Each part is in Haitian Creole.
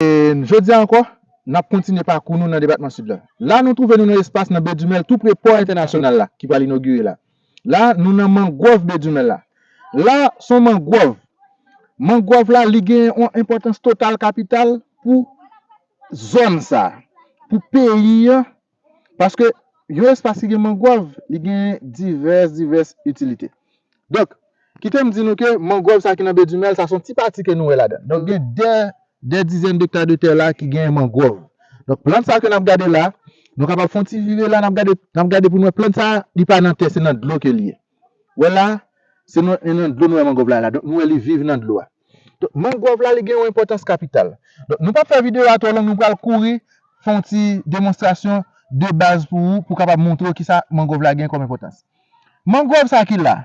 Jodi a ankò, n ap kontinye pakou nou nan depatman Sid la. La nou twouve nou nan espas nan Bedumèl tou pre pò entènasyonal la ki pral inogire la. La nou nan mangwòv Bedumèl la. La s on mangwòv. Mangwòv la li gen yon enpòtans total kapital pou zòn sa a, pou peyi an. Paske, yon espas ki gen mangwòv, li gen divès, divès itilite. Donk, kite m di nou ke mangwòv sa ki nan Be Dumèl sa, se yon ti pati ke nou wè ladan l. Donk, gen dè, dè dizèn dekta de tè la ki gen mangwòv. Donk, plant sa ke n ap gade la, nou kapab fè yon ti vire la, n ap gade, n ap gade pou nou wè plant sa, li pa nan tè, se nan dlo ke li ye. Wè la, se nan en nan dlo nou wè mangòv la la. Donk nou wè li viv nan dlo a. Donk mangòv la li gen yon enpòtans kapital. Donk nou pap fè videyo a twò long nou pral kouri fè yon ti demonstrasyon de baz pou ou pou kapab montre ou kisa mangòv la gen kòm enpòtans. Mangòv sa ki la,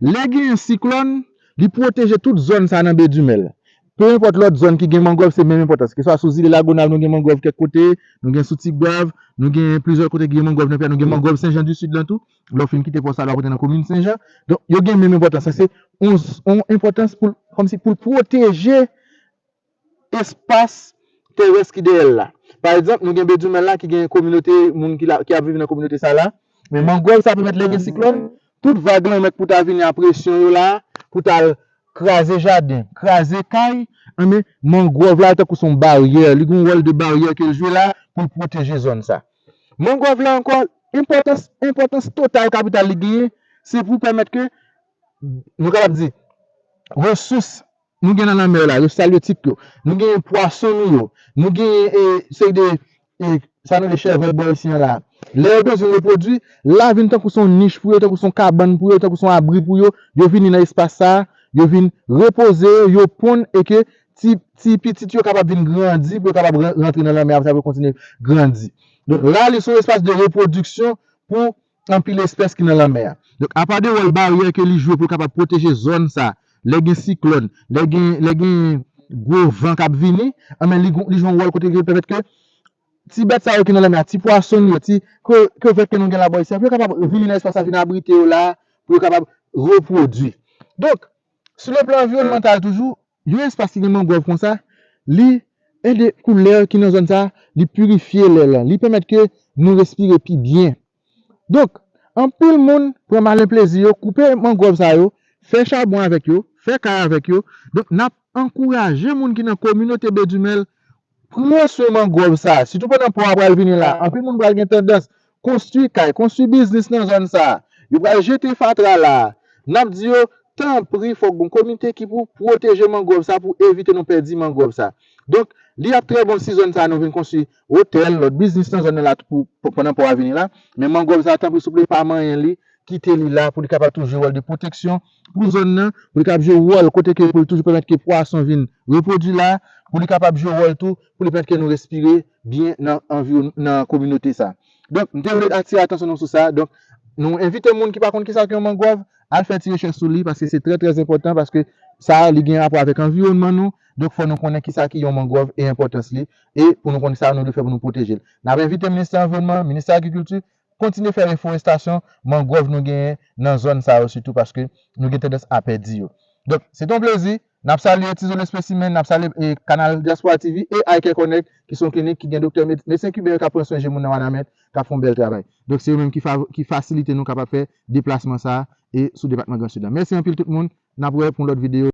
lè gen yon siklòn, li pwoteje tout zòn sa nan Bedumèl. Pe enpòt lòt zòn ki gen mangòv se menm enpòtans. Ke swa sou zile Lagonav nou gen mangòv kèk kote, nou gen sou Tigwav, nou gen plizyè kote ki gen mangòv nan peyi a, nou gen mangòv Senjandisid lan tou. Lè w fin kite pòs la l ap rantre nan komin Senjan. Donk yo gen menm enpòtans lan. Se yon enpòtans pou l kòmsi pou l pwoteje espas terès ki dèyè l la. Pa egzanp, nou gen Bedjoumen la ki gen kominote moun ki ap viv nan kominote sa la. Men mangròv sa pèmèt lè gen siklòn, tout vag lanmè k pou ta vini a presyon yo la a pou ta al kraze jaden, kraze kay, enben mangròv la tankou se yon baryè. Li gen yon wòl de baryè ke l jwe la a pou l pwoteje zòn sa a. Mangròv la ankò, enpòtans, enpòtans total kapital li genyen, se pou pèmèt ke, nou kapab di, resous nou gen nan lanmè yo la, resous alyotik yo, nou genyen pwason nou yo, nou genyen e, seri de, e, sa nou rele chèvòt bò isi an la, lè yo bezwen repwodui, la vin tankou se yon nich pou yo, tankou se yon kabann pou yo, tankou se yon abri pou yo, yo vini nan espas sa a, yo vin repoze yo, yo ponn e ke ti pitit yo kapab vin grandi, pou yo kapab rantre nan lanmè apre sa pou yo kontinye grandi. Donk, la a li se yon espas de repwodiksyon pou anpil espès ki nan lanmè a. Donk, apa de wòl baryè ke li jwe pou l kapab pwoteje zòn sa a, lè gen siklòn, lè gen, lè gen gwo van k ap vini, anben li jwe yon wòl kote ke li pèmèt ke ti bèt sa yo ki nan lanmè a, ti pwason yo, ti krevèt ke nou gen la bò isit la, pou yo kapab vini nan espas sa a, vin abrite yo la a, pou yo kapab repwodui. Donk, Sou le plan anviwònmantal toujou, yon espas ki gen mangròv konsa, li ede kou lè ki nan zòn sa, li pirifye lè lan, li pèmèt ke nou respire pi byen. Donk, anpil moun pran malen plezi yo koupe mangròv sa yo, fè chabon avèk yo, fè kay avèk yo. Donk, n ap ankouraje moun ki nan kominote Bedumèl Pran swen mangwòv sa a, sitou pandan pò a pral vini la a. Anpil moun pral gen tandans konstwi kay, konstwi biznis nan zòn sa a. Yo pral jete fatra la a. N ap di yo, Tanpri fòk gon komite ki pou pwoteje mangwòv sa a pou evite nou pèdi mangwòv sa a. Donk, li ap trè bon si zòn sa a nou vin konstwi otèl, lòt biznis nan zòn nan la pou pandan pò a vini la. Men mangwòv sa a, tanpri souple pa manyen li, kite li la pou li kapab tou jwe wòl de pwoteksyon. pou zòn nan, pou li kab jwe wòl kote ke pou li toujou pèmèt ke pwason vin repwodui la, pou li kapab jwe wòl tou pou li pèmèt ke nou respire byen nan anviwon nan kominote sa. Donk m te vle atire atansyon nou sou sa, donk nou envite moun ki pa konn kisa k yon mangwòv al fè ti rechèch sou li paske se trè trè enpòtan paske sa li gen rapò avèk anviwònman nou, donk fò nou konnen kisa ki yon mangwòv e enpòtans li e pou nou konn sa nou dwe fè pou nou pwoteje l. N ap envite Ministè anviwònman, Ministè agrikilti kontinye fè reforestasyon mangrove nou genyen nan zòn sa yo sitou paske nou gen tandans a pèdi yo. Donk, se te yon plezi. N ap salye Tizon Lespesimen, n ap salye kanal Dyaspora TV e iCareConnect ki se yon klinik ki gen doktè, medsen kiben yo k ap pran swen je moun nan Wanament, k ap fè yon bèl travay. Donk, se yo menm ki fasilite nou kapab fè deplasman sa a e sou depatman Gran Sid la. Mèsi anpil tout moun. N ap wè pou yon lòt videyo.